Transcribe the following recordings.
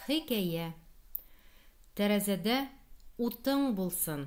Хикәя. Тәрәзәдә утың булсын.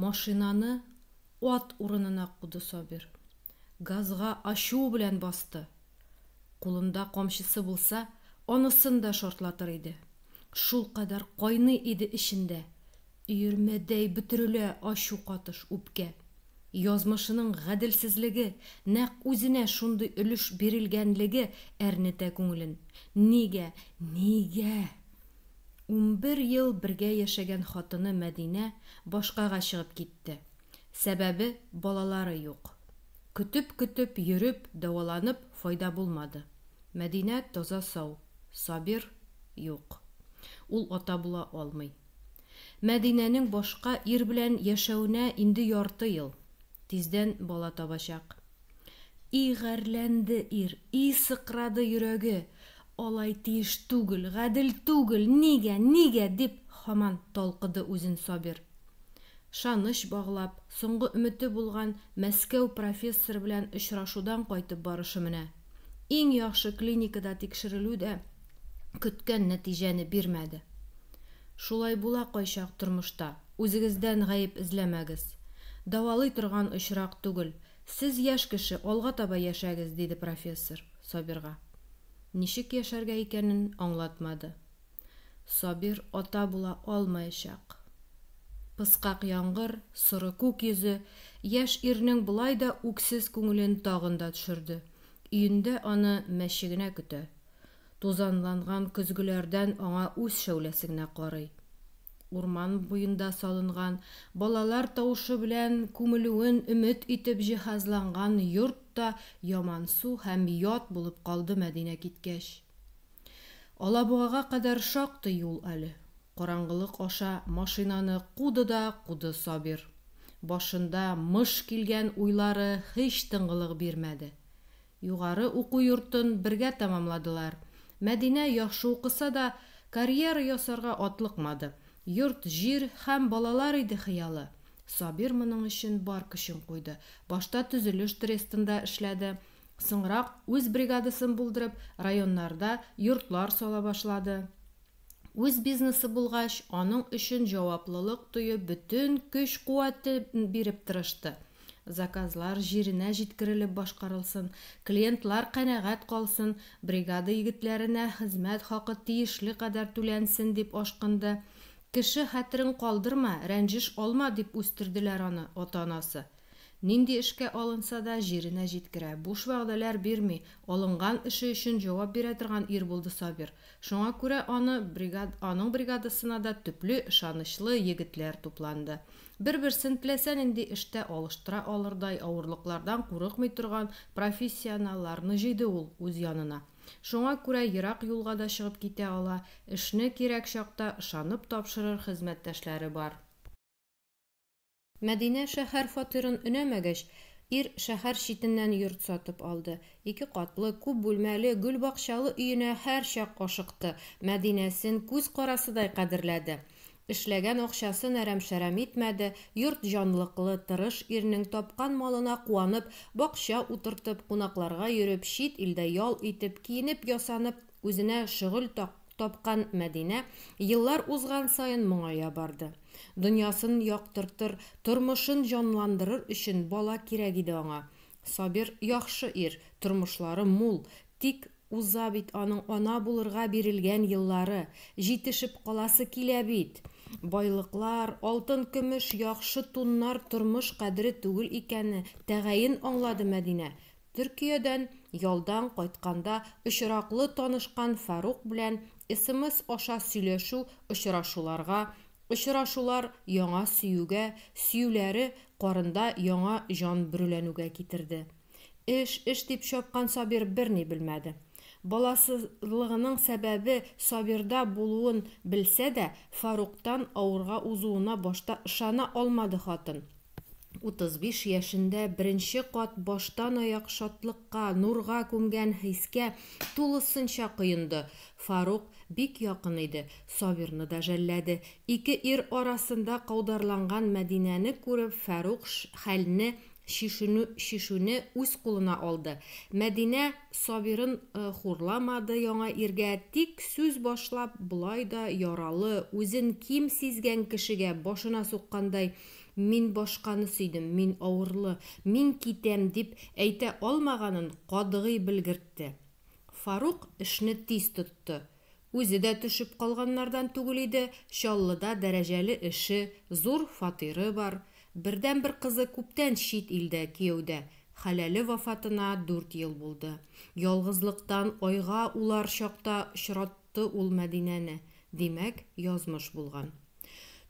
Машинаны ат урынына куды Сабир. Газга ачу белән басты. Кулында камчысы булса, анысын да шартлатыр иде. Шулкадәр кайный иде эчендә. Өермәдәй бөтерелә ачу катыш, үпкә. Язмышының гаделсезлеге, нәкъ үзенә шундый өлеш бирелгәнлеге әрнетә күңелен. Нигә, нигә? Унбер ел бергә яшәгән хатыны Мәдинә башкага чыгып китте. Сәбәбе, балалары юк. Көтеп-көтеп йөреп, дәваланып, файда булмады. Мәдинә таза-сау, Сабир, юк. Ул ата була алмый. Мәдинәнең башка ир белән яшәвенә инде ярты ел. Тиздән бала табачак. И гарьләнде ир, и сыкрады йөрәге, Алай тиеш түгел, гадел түгел, нигә, нигә? дип һаман талкыды үзен Сабир. Шаныч баглап, соңгы өмете булган Мәскәү профессоры белән очрашудан кайтып барышы менә. Иң яхшы клиникада тикшерелү дә көткән нәтиҗәне бирмәде. Шулай була кайчак тормышта. Үзегездән гаеп эзләмәгез. Дәвалый торган очрак түгел. Сез яшь кеше, алга таба яшәгез, диде профессор Сабирга. Ничек яшәргә икәнен аңлатмады. Сабир ата була алмаячак. Пыскак яңгыр, соры күк йөзе яшь ирнең болай да үксез күңелен тагын да төшерде. Өендә аны мәче генә көтә. Тузанланган көзгеләрдән аңа үз шәүләсе генә карый. Урман буенда салынган, балалар тавышы белән күмелүен өмет итеп җиһазланган йорт та ямансу һәм ят булып калды Мәдинә киткәч. Алабугага кадәр шактый юл әле. Караңгылык аша машинаны куды да куды Сабир. Башында мыш килгән уйлары һич тынгылык бирмәде. Югары уку йортын бергә тәмамладылар. Мәдинә яхшы укыса да, карьера ясарга атлыкмады. Йорт-җир һәм балалар иде хыялы. Сабир моның өчен бар көчен куйды. Башта төзелеш трестында эшләде. Соңрак, үз бригадасын булдырып, районнарда йортлар сала башлады. Үз бизнесы булгач, аның өчен җаваплылык тоеп, бөтен көч-куәтен биреп тырышты. Заказлар җиренә җиткерелеп башкарылсын, клиентлар канәгать калсын, бригада егетләренә хезмәт хакы тиешле кадәр түләнсен, дип ашкынды. Кеше хәтерен калдырма, рәнҗеш алма, дип үстерделәр аны ата-анасы. Нинди эшкә алынса да, җиренә җиткерә, буш вәгъдәләр бирми, алынган эше өчен җавап бирә торган ир булды Сабир. Шуңа күрә аны бригад аның бригадасына да төпле, ышанычлы егетләр тупланды. Бер-берсен теләсә нинди эштә алыштыра алырдай авырлыклардан курыкмый торган профессионалларны җыйды ул үз янына. Шуңа күрә ерак юлга да чыгып китә ала, эшне кирәк чакта ышанып тапшырыр хезмәттәшләре бар. Мәдинә шәһәр фатирын өнәмәгәч, ир шәһәр читеннән йорт сатып алды. Ике катлы, күп бүлмәле, гөлбакчалы өенә һәрчак ашыкты, Мәдинәсен күз карасыдай кадерләде. Эшләгән акчасын әрәм-шәрәм итмәде, йорт җанлыклы, тырыш ирнең тапкан малына куанып, бакча утыртып, кунакларга йөреп, чит илдә ял итеп, киенеп-ясанып, үзенә шөгыль тапкан Мәдинә еллар узган саен моңая барды. Дөньясын яктыртыр, тормышын җанландырыр өчен бала кирәк иде аңа. Сабир, яхшы ир, тормышлары мул, тик. Уза бит аның ана булырга бирелгән еллары, җитешеп каласы килә бит! Байлыклар, алтын-көмеш, яхшы туннар тормыш кадере түгел икәнне тәгаен аңлады Мәдинә. Төркиядән ялдан кайтканда очраклы танышкан Фарук белән смс аша сөйләшү очрашуларга, очрашулар яңа сөюгә, сөюләре карында яңа җан бөреләнүгә китерде. Эш, эш дип чапкан Сабир берни белмәде. Баласызлыгының сәбәбе Сабирда булуын белсә дә, Фаруктан авырга узуына башта ышана алмады хатын. 35 яшендә беренче кат баштанаяк шатлыкка, нурга күмгән хискә тулысынча коенды. Фарук бик якын иде, Сабирны да жәлләде. Ике ир арасында каударланган Мәдинәне күреп, Фәрук хәлне Чишенү чишүне үз кулына алды. Мәдинә Сабирын хурламады яңа иргә, тик сүз башлап болай да яралы, үзен ким сизгән кешегә башына суккандай, Мин башканы сөйдем, мин авырлы, мин китәм, дип әйтә алмаганын катгый белгертте. Фарук эшне тиз тотты. Үзе дә төшеп калганнардан түгел иде, Чаллыда дәрәҗәле эше, зур фатиры бар. Бердәнбер кызы күптән чит илдә кияүдә, хәләле вафатына дүрт ел булды. Ялгызлыктан айга улар чакта очратты ул Мәдинәне. Димәк, язмыш булган.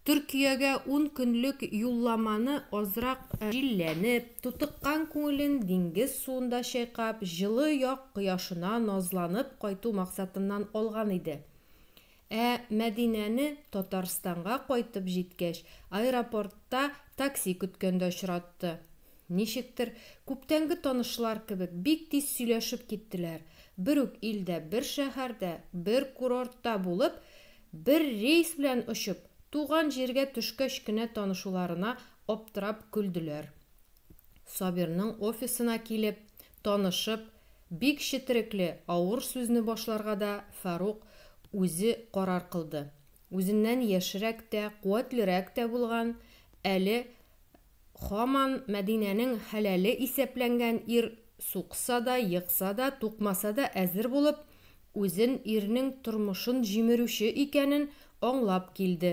Төркиягә ун көнлек юлламаны азрак җилләнеп, тутыккан күңелен диңгез суында чайкап, җылы як кояшына назланып кайту максатыннан алган иде. Ә Мәдинәне Татарстанга кайтып җиткәч, аэропортта такси көткәндә очратты. Ничектер, күптәнге танышлар кебек, бик тиз сөйләшеп киттеләр. Бер үк илдә, бер шәһәрдә, бер курортта булып, Бер рейс белән очып, туган җиргә төшкәч кенә танышуларына аптырап көлделәр. Сабирның офисына килеп, танышып, бик четерекле, авыр сүзне башларга да Фарук үзе карар кылды. Үзеннән яшьрәк тә, куәтлерәк тә булган, әле Хаман Мәдинәнең хәләле исәпләнгән ир сукса да, екса да, тукмаса да әзер булып, үзен ирнең тормышын җимерүче икәнен аңлап килде.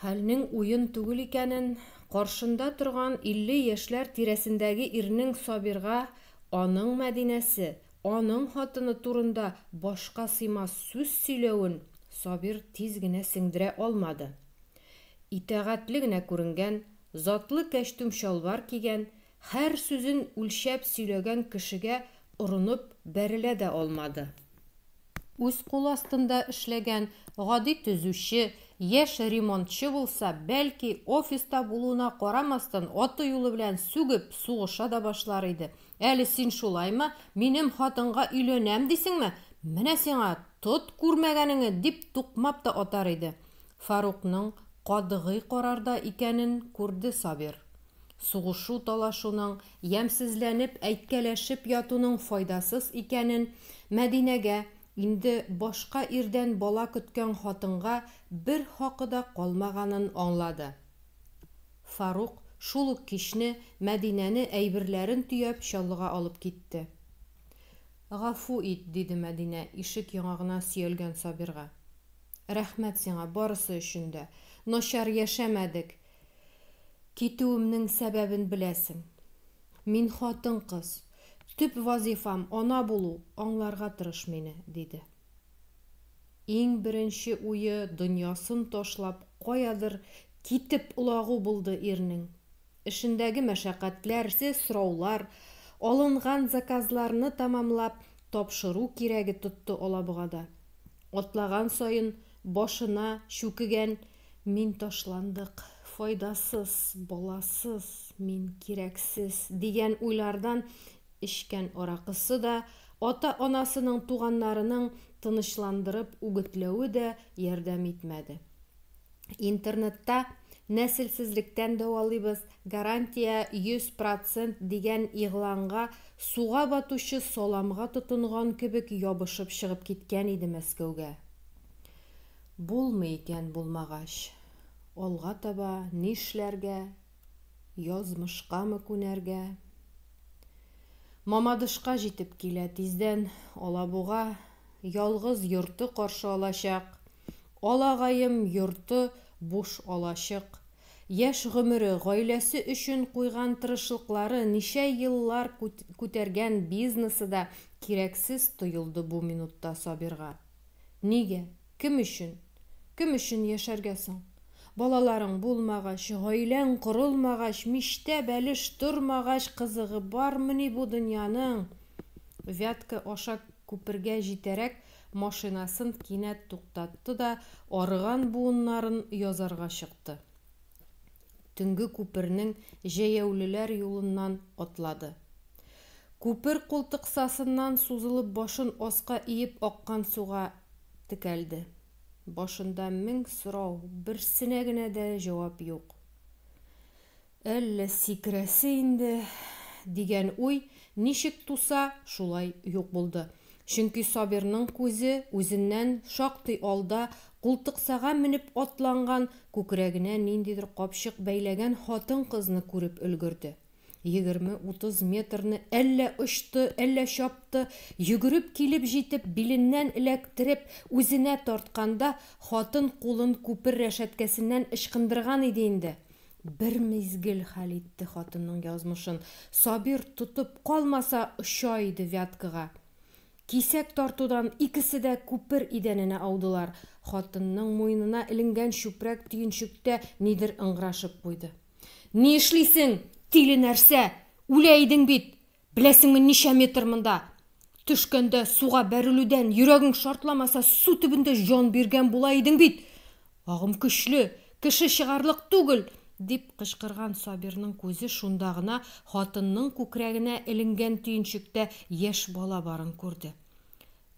Хәлнең уен түгел икәнен, каршында торган илле яшьләр тирәсендәге ирнең Сабирга аның Мәдинәсе, аның хатыны турында башка сыймас сүз сөйләвен Сабир тиз генә сеңдерә алмады. Итагатьле генә күренгән, затлы кәчтүм-чалбар кигән, һәр сүзен үлчәп сөйләгән кешегә орынып бәрелә дә алмады. Үз кул астында эшләгән гади төзүче, яшь ремонтчы булса, бәлки, офиста булуына карамастан, аты-юлы белән сүгеп, сугыша да башлар иде. Әле син шулаймы, минем хатынга өйләнәм дисеңме? Менә сиңа, тот күрмәгәнеңне, дип тукмап та атар иде. Фарукның катгый карарда икәнен күрде Сабир. Сугышу-талашуның, ямьсезләнеп, әйткәләшеп ятуның файдасыз икәнен Мәдинәгә, инде башка ирдән бала көткән хатынга бер хакы да калмаганын аңлады. Фарук шул ук кичне Мәдинәне әйберләрен төяп Чаллыга алып китте. Гафу ит, диде Мәдинә ишек яңагына сөялгән Сабирга. Рәхмәт сиңа барысы өчен дә. Начар яшәмәдек. Китүемнең сәбәбен беләсең. Мин хатын-кыз. Төп вазифам, ана булу, аңларга тырыш мине, диде. Иң беренче уе дөньясын ташлап каядыр китеп олагу булды ирнең. Эшендәге мәшәкатьләр, се сораулар, алынган заказларны тәмамлап тапшыру кирәге тотты Алабугада. Атлаган саен башына чүкегән Мин ташландык, файдасыз, баласыз, мин кирәксез, дигән уйлардан эчкән аракысы да, ата-анасының, туганнарының тынычландырып үгетләве дә ярдәм итмәде. Интернетта Нәселсезлектән дәвалыйбыз, гарантия 100 процент дигән игъланга суга батучы саламга тотынган кебек ябышып чыгып киткән иде Мәскәүгә. Булмый икән булмагач. Алга таба нишләргә? Язмышкамы күнәргә? Мамадышка җитеп килә, тиздән Алабуга ялгыз йорты каршы алачак. Алагаем йорты буш алачык. Яшь гомере, гаиләсе өчен куйган тырышлыклары, ничә еллар күтәргән бизнесы да кирәксез тоелды бу минутта Сабирга. Нигә? Кем өчен? Кем өчен яшәргә соң? Балаларың булмагач, гаиләң корылмагач, мичтә бәлеш тормагач, кызыгы бармыни бу дөньяның? Вятка аша күпергә җитәрәк, Машинасын кинәт туктатты да арыган буыннарын язарга чыкты. Төнге күпернең җәяүлеләр юлыннан атлады. Күпер култыксасыннан сузылып башын аска иеп аккан суга текәлде. Башында мең сорау, берсенә генә дә җавап юк. Әллә сикерәсе инде, дигән уй ничек туса, шулай юк булды. Чөнки Сабирның күзе үзеннән шактый алда култыксага менеп атланган, күкрәгенә ниндидер капчык бәйләгән хатын-кызны күреп өлгерде. Егерме-утыз метрны әллә очты, әллә чапты, йөгереп килеп җитеп, биленнән эләктереп, үзенә тартканда, хатын кулын күпер рәшәткәсеннән ычкындырган иде инде. Бер мизгел хәл итте хатынның язмышын, Сабир тотып калмаса, оча иде Вяткага. Кисәк тартудан икесе дә күпер идәненә аудылар. Хатынның муенына эленгән чүпрәк төенчектә нидер ыңгырашып куйды. Ни эшлисең, тиле нәрсә! Үлә идең бит! Беләсеңме, ничә метр монда? Төшкәндә, суга бәрелүдән, йөрәгең шартламаса, су төбендә җан биргән була идең бит! Агым көчле, кеше чыгарлык түгел! дип кычкырган Сабирның күзе шунда гына хатынның күкрәгенә эленгән төенчектә яшь бала барын күрде.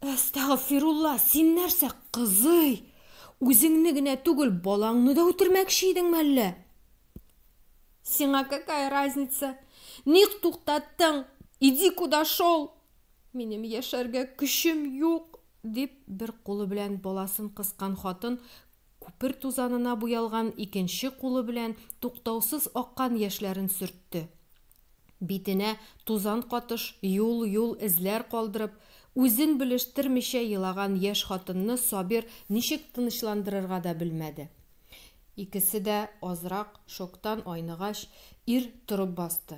Әстәгъфирулла, син нәрсә, кызый? Үзеңне генә түгел, балаңны да үтермәкче идеңме әллә? Сиңа какая разница? Ник туктаттың? Иди куда шел? Минем яшәргә көчем юк, дип, бер кулы белән баласын кыскан хатын күпер тузанына буялган икенче кулы белән туктаусыз аккан яшьләрен сөртте. Битенә тузан катыш, юл-юл эзләр калдырып, үзен белештермичә елаган яшь хатынны Сабир ничек тынычландырырга да белмәде. Икесе дә азрак шоктан айныгач, ир торып басты.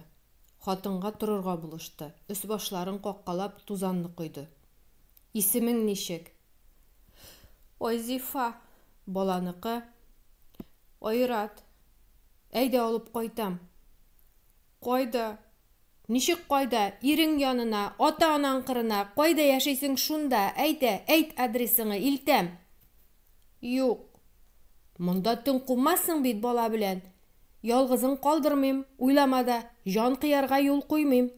Хатынга торырга булышты, өс-башларын каккалап тузанны койды. Исемең ничек? Айзифа. Баланыкы? Айрат. Әйдә, алып кайтам. Кайда? Ничек кайда? Ирең янына, ата-анаң кырына, кайда яшисең шунда, әйдә, әйт адресыңы, илтәм. Юк. Монда төн кумассың бит бала белән. Ялгызың калдырмыйм, уйлама да, җан кыярга юл куймыйм.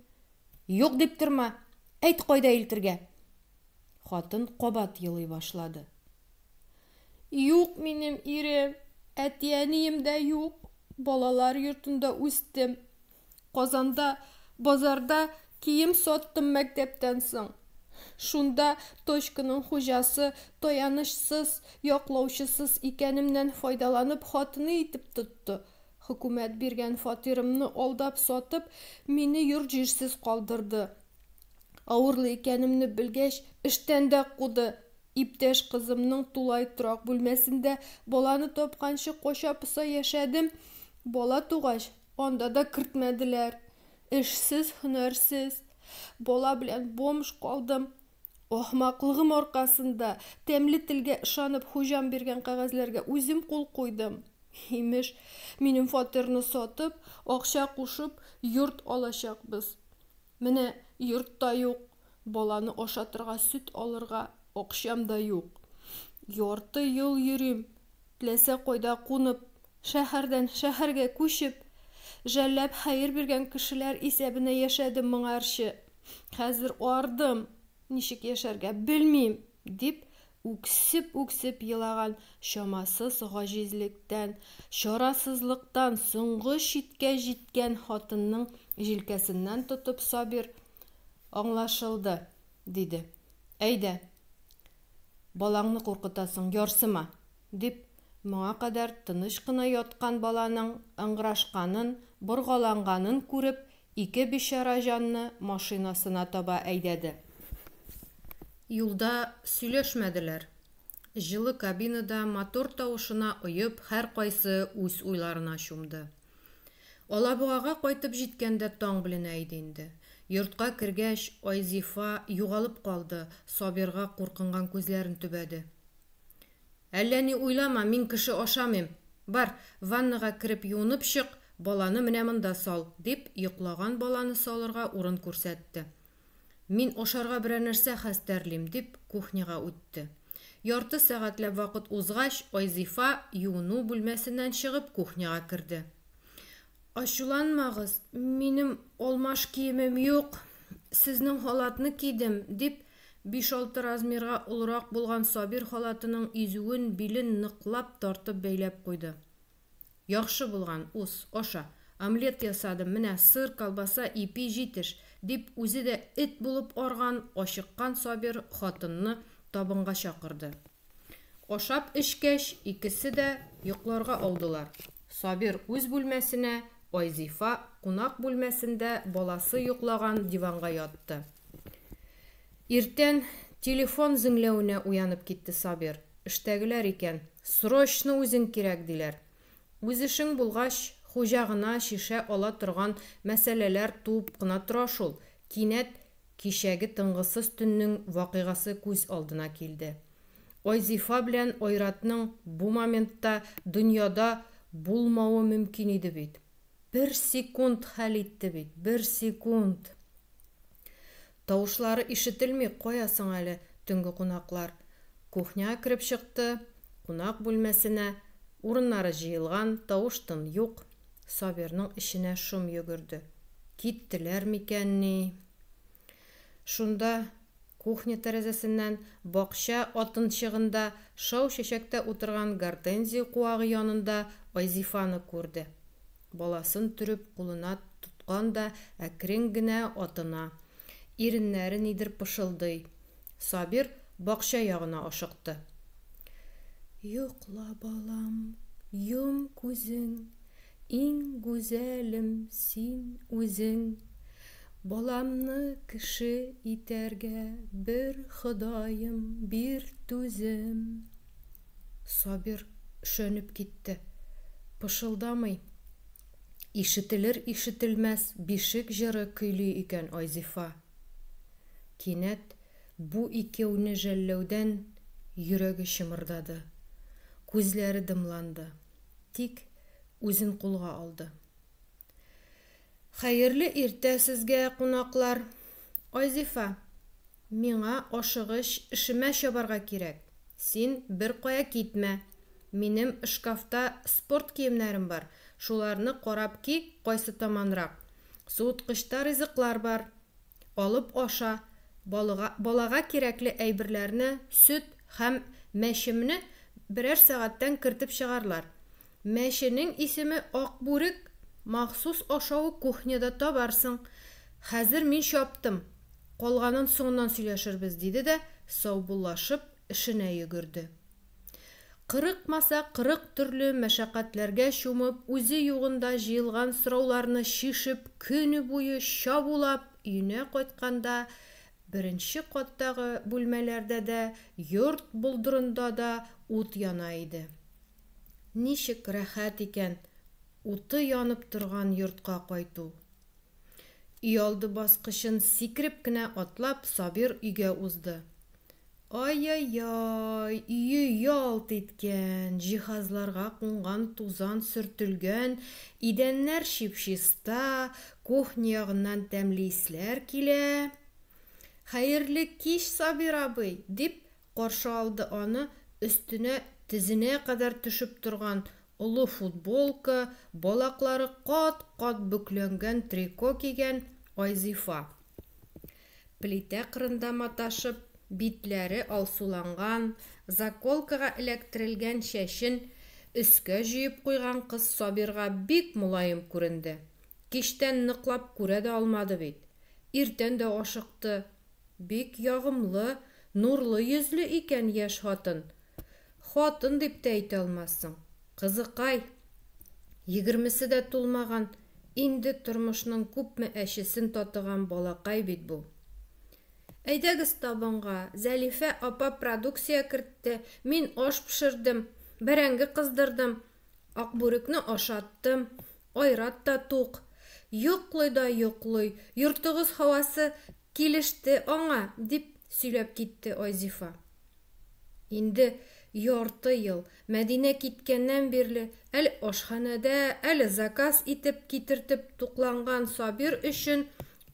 Юк дип торма. Әйт кайда илтергә? Хатын кабат елый башлады. Юк минем ирем, әти-әнием дә юк. Балалар йортында үстем. Казанда базарда кием саттым мәктәптән соң. Шунда точканың хуҗасы таянычсыз, яклаучысыз икәнемнән файдаланып хатыны итеп тотты. Хөкүмәт биргән фатирымны алдап сатып, мине йорт-җирсез калдырды. Авырлы икәнемне белгәч, эштән дә куды. Иптәш кызымның тулай торак бүлмәсендә баланы тапканчы кача-поса яшәдем. Бала тугач, Анда да кертмәделәр. Эшсез, һөнәрсез. Бала белән бомж калдым. Ахмаклыгым аркасында, тәмле телгә ышанып, хуҗам биргән кәгазьләргә үзем кул куйдым. Имеш, минем фатирны сатып, акча кушып, йорт алачакбыз. Менә йорт та юк, баланы ашатырга, сөт алырга акчам да юк. Ярты ел йөрим, Теләсә кайда кунып, шәһәрдән шәһәргә күчеп, жәлләп хәер биргән кешеләр исәбенә яшәдем моңарчы. Хәзер ардым, ничек яшәргә, белмим, дип үксеп-үксеп елаган чамасыз гаҗизлектән, чарасызлыктан соңгы чиккә җиткән хатынның җилкәсеннән тотып Сабир, аңлашылды. Диде. Әйдә. Балаңны куркытасың, ярсыма! дип, моңа кадәр тыныч кына яткан баланың ыңгырашканын, боргаланганын күреп, ике бичара җанны машинасына таба әйдәде. Юлда сөйләшмәделәр. Җылы кабинада мотор тавышына оеп, һәркайсы үз уйларына чумды. Алабугага кайтып җиткәндә таң беленә иде инде. Йортка кергәч, Айзифа югалып калды, Сабирга куркынган күзләрен төбәде. Әллә ни уйлама, мин кеше ашамыйм. Бар, ваннага кереп юынып чык, баланы менә монда сал, дип, йоклаган баланы салырга урын күрсәтте. Мин ашарга берәр нәрсә хәстәрлим, дип, кухняга үтте. Ярты сәгатьләп вакыт узгач, Айзифа, юыну бүлмәсеннән чыгып, кухняга керде. Ачуланмагыз, минем алмаш киемем юк, сезнең халатны кидем, дип, биш-алты размерга олырак булган Сабир халатының изүен, билен ныклап тартып бәйләп куйды. Яхшы булган, ус, аша. Омлет ясадым, менә сыр, колбаса, ипи җитеш, дип, үзе дә эт булып арган, ачыккан Сабир хатынны табынга чакырды. Ашап эчкәч, икесе дә йокларга аудылар. Сабир үз бүлмәсенә, Айзифа кунак бүлмәсендә баласы йоклаган диванга ятты. Иртән телефон зеңләвенә уянып китте Сабир. Эштәгеләр икән. Срочно үзең кирәк, диләр. Үз эшең булгач, хуҗа гына шешә ала торган мәсьәләләр туып кына тора шул. Кинәт кичәге тынгысыз төннең вакыйгасы күз алдына килде. Айзифа белән Айратның бу моментта дөньяда булмавы мөмкин иде бит. Бер секунд хәл итте бит, бер секунд! Тавышлары ишетелми, кая соң әле төнге кунаклар? Кухняга кереп чыкты, кунак бүлмәсенә. Урыннары җыелган, тавыш-тын юк. Сабирның эченә шом йөгерде. Киттеләр микәнни? Шунда, кухня тәрәзәсеннән, бакча атынчыгында шау чәчәктә утырган гортензия куагы янында Айзифаны күрде. Баласын төреп кулына тоткан да әкрен генә атына. Иреннәре нидер пышылдый. Сабир бакча ягына ашыкты. Йокла, балам, йом күзең, иң гүзәлем син үзең. Баламны кеше итәргә бер Ходаем бир түзем. Сабир шөнеп китте. Пышылдамый. Ишетелер-ишетелмәс бишек җыры көйли икән Айзифа. Кинәт бу икәүне жәлләүдән йөрәге чымырдады. Күзләре дымланды. Тик үзен кулга алды. Хәерле иртә сезгә, кунаклар! Айзифа, миңа ашыгыч эшемә чабарга кирәк. Син беркая китмә. Минем шкафта спорт киемнәрем бар, шуларны карап ки, кайсы таманрак. Суыткычта ризыклар бар. Алып аша. Балыга, балага кирәкле әйберләрне, сөт һәм мәчемне берәр сәгатьтән кертеп чыгарлар. Мәченең исеме Акбүрек, махсус ашавы кухняда табарсың. Хәзер мин чаптым, калганын соңыннан сөйләшербез, диде дә, саубуллашып, эшенә йөгерде. Кырыкмаса кырык төрле мәшәкатьләргә чумып, үзе югында җыелган сорауларны чишеп, көне буе чабулап, өенә кайтканда, беренче каттагы бүлмәләрдә дә, йорт болдырында да ут яна иде. Ничек рәхәт икән уты янып торган йортка кайту! Өйалды баскычын сикереп кенә атлап, Сабир өйгә узды. Ай-яй-яй, өе ялт иткән, җиһазларга кунган тузан сөртелгән, идәннәр чип-чиста, кухня ягыннан тәмле исләр килә. Хәерле кич, Сабир абый! дип, Каршы алды аны өстенә тезенә кадәр төшеп торган олы футболка, балаклары кат-кат бөкләнгән трико кигән Айзифа. Плитә кырында маташып, битләре алсуланган, заколкага эләктерелгән чәчен өскә җөеп куйган кыз Сабирга бик мөлаем күренде. Кичтән ныклап күрә дә алмады бит. Иртән дә ашыкты, Бик ягымлы, нурлы йөзле икән яшь хатын. Хатын дип тә әйтә алмассың. Кызыкай! Егермесе дә тулмаган, инде тормышның күпме әчесен татыган балакай бит бу. Әйдәгез табынга, Зәлифә апа продукция кертте, мин аш пешердем, бәрәңге кыздырдым, Акбүрекне ашаттым, Айрат та тук. Йоклый да йоклый, йортыгыз һавасы килеште аңа, дип сөйләп китте Айзифа. Инде ярты ел, Мәдинә киткәннән бирле, әле ашханәдә, әле заказ итеп китертеп тукланган Сабир өчен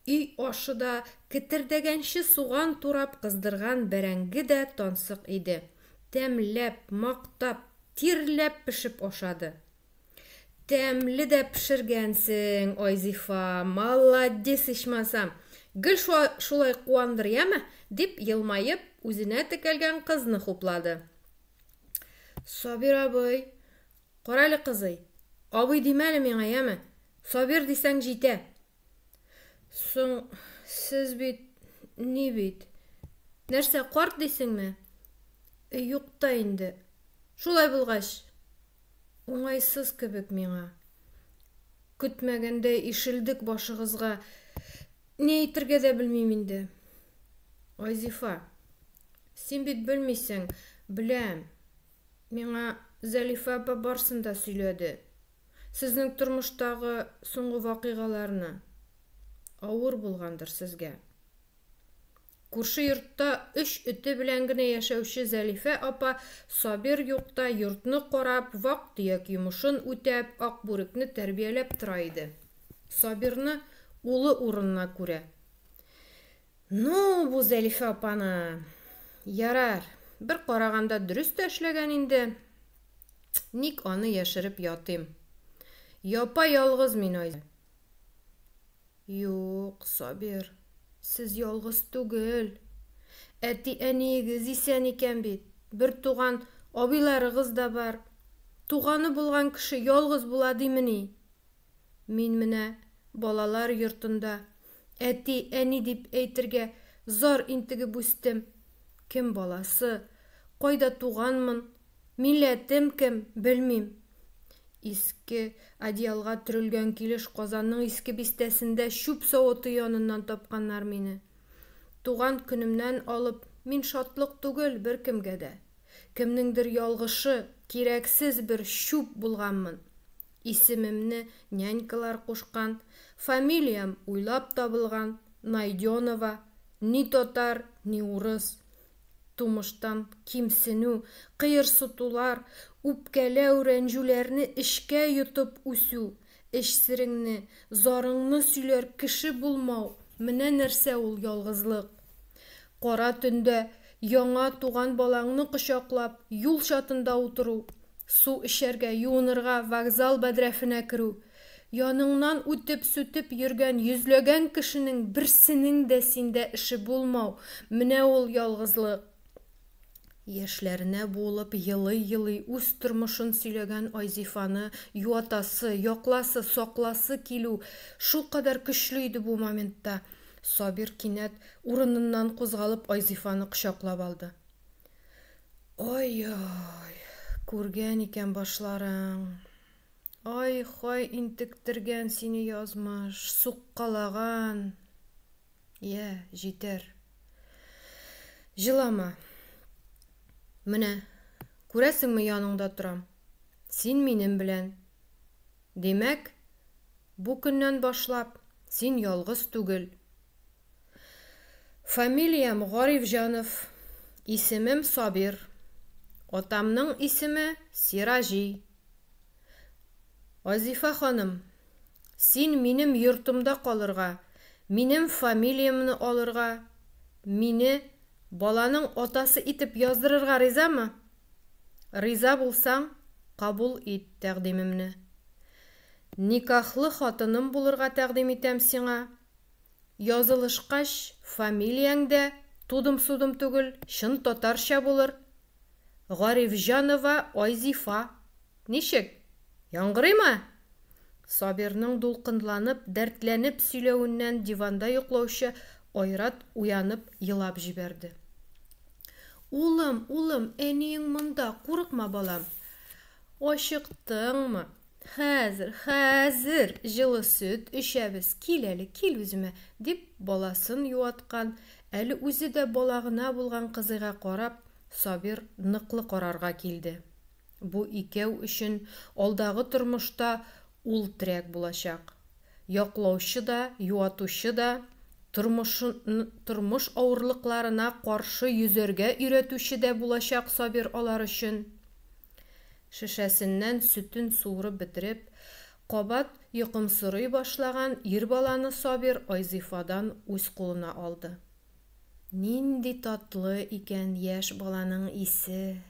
өй ашы да, кетердәгәнче суган турап кыздырган бәрәңге дә тансык иде. Тәмләп, мактап, тирләп пешеп ашады. Тәмле дә пешергәнсең, Айзифа, маладис ичмасам! Гел шулай куандыр, яме! дип елмаеп, үзенә текәлгән кызны хуплады. Сабир абый, карале кызый, абый димәле миңа, яме! Сабир дисәң җитә! Соң, сез бит, ни бит. Нәрсә, карт дисеңме? Э, юк та инде. Шулай булгач, уңайсыз кебек миңа. Көтмәгәндә ишелдек башыгызга. Ни әйтергә дә белмим инде. Айзифа, син бит белмисең, беләм. Миңа Зәлифә апа барсын да сөйләде. Сезнең тормыштагы соңгы вакыйгаларны. Авыр булгандыр сезгә. Күрше йортта өч эте белән генә яшәүче Зәлифә апа Сабир юкта йортны карап, вак-төяк йомышын үтәп, Акбүрекне тәрбияләп тора иде. Сабирны улы урынына күрә. Ну, бу Зәлифә апаны. Ярар, бер караганда дөрес тә эшләгән инде. Ник аны яшереп ятыйм? Япа-ялгыз мин, Айза. Юк, Сабир, сез ялгыз түгел. Әти-әниегез исән икән бит. Бертуган абыйларыгыз да бар. Туганы булган кеше ялгыз була димени? Мин менә балалар йортында әти, әни дип әйтергә зар интегеп үстем. Кем баласы, кайда туганмын, милләтем кем, белмим. Иске одеялга төрелгән килеш Казанның Иске Бистәсендә чүп савыты яныннан тапканнар мине. Туган көнемнән алып мин шатлык түгел беркемгә дә. Кемнеңдер ялгышы, кирәксез бер чүп булганмын. Исемемне нянькалар кушкан, фамилиям уйлап табылган, Найденова, ни татар, ни урыс. Тумыштан кимсенү, кыерсытулар, үпкәләү, рәнҗүләрне эчкә йотып үсү, эч сереңне, зарыңны сөйләр кеше булмау, менә нәрсә ул ялгызлык. Кара төндә яңа туган балаңны кочаклап, юл чатында утыру, су эчәргә, юынырга вокзал бәдрәфенә керү, яныңнан үтеп-сүтеп йөргән йөзләгән кешенең берсенең дә синдә эше булмау, менә ул ялгызлык. Яшьләренә буылып, елый-елый үз тормышын сөйләгән Айзифаны юатасы, якласы, сакласы килү шулкадәр көчле иде бу моментта. Сабир кинәт урыныннан кузгалып Айзифаны кочаклап алды. Ай-ай, күргән икән башларың. Ай-хай интектергән сине язмыш, суккалаган. Йә, җитәр. Җылама. Менә, күрәсеңме, яныңда торам. Син минем белән. Димәк, бу көннән башлап син ялгыз түгел. Фамилиям Гарифҗанов, исемем Сабир. Атамның исеме Сираҗи. Азифа ханым, син минем йортымда калырга, минем фамилиямне алырга, мине баланың атасы итеп яздырырга ризамы? Риза булсаң, кабул ит тәкъдимемне. Никахлы хатыным булырга тәкъдим итәм сиңа. Язылышкач, фамилияң дә тудым-судым түгел, чын татарча булыр. Гарифҗанова Айзифа, ничек? Яңгырыймы? Сабирның дулкынланып, дәртләнеп сөйләвеннән диванда йоклаучы Айрат уянып елап җибәрде. Улым, улым, әниең монда, курыкма, балам. Ачыктыңмы? Хәзер, хәзер җылы сөт эчәбез, кил әле, кил үземә, дип, баласын юаткан, әле үзе дә бала гына булган кызыйга карап, Сабир ныклы карарга килде. Бу икәү өчен алдагы тормышта ул терәк булачак. Яклаучы да, юатучы да, тормыш авырлыкларына каршы йөзәргә өйрәтүче дә булачак Сабир алар өчен. Шешәсеннән сөтен суырып бетереп, кабат йокымсырый башлаган ир баланы Сабир Айзифадан үз кулына алды. Нинди татлы икән яшь баланың исе!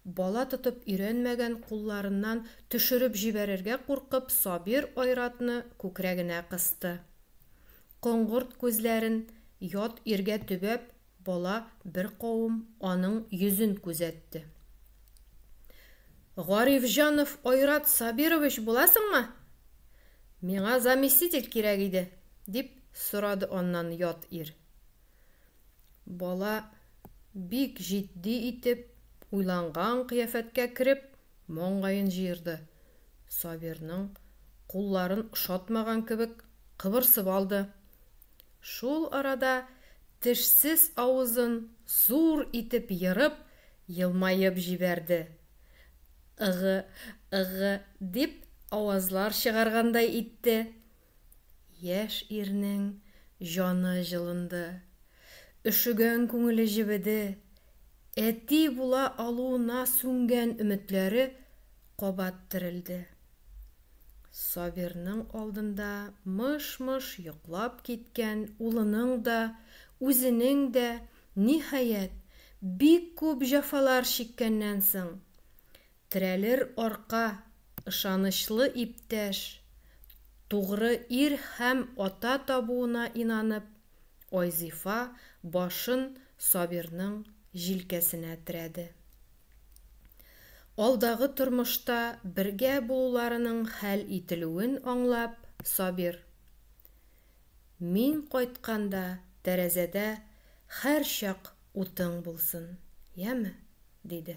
Бала тотып өйрәнмәгән кулларыннан төшереп җибәрергә куркып Сабир Айратны күкрәгенә кысты. Коңгырт күзләрен ят иргә төбәп, Бала беркавым аның йөзен күзәтте. Гарифҗанов Айрат Сабирович буласыңмы? Миңа заместитель кирәк иде, дип сорады аннан ят ир. Бала бик җитди итеп, уйланган кыяфәткә кереп, маңгаен җыерды. Сабирның кулларын ошатмаган кебек кыбырсып алды. Шул арада тешсез авызын зур итеп ерып, елмаеп җибәрде. Ыгы, ыгы, дип авазлар чыгаргандай итте. Яшь ирнең җаны җылынды. Өшегән күңеле җебеде. Әти була алуына сүнгән өметләре кабат терелде. Сабирның алдында мыш-мыш йоклап киткән улының да, үзенең дә, ниһаять, бик күп җәфалар чиккәннән соң, терәлер арка, ышанычлы иптәш, тугры ир һәм ата табуына инанып, Айзифа башын Сабирның җилкәсенә терәде. Алдагы тормышта бергә булуларының хәл ителүен аңлап, Сабир, Мин кайтканда тәрәзәдә һәрчак утың булсын, яме? диде.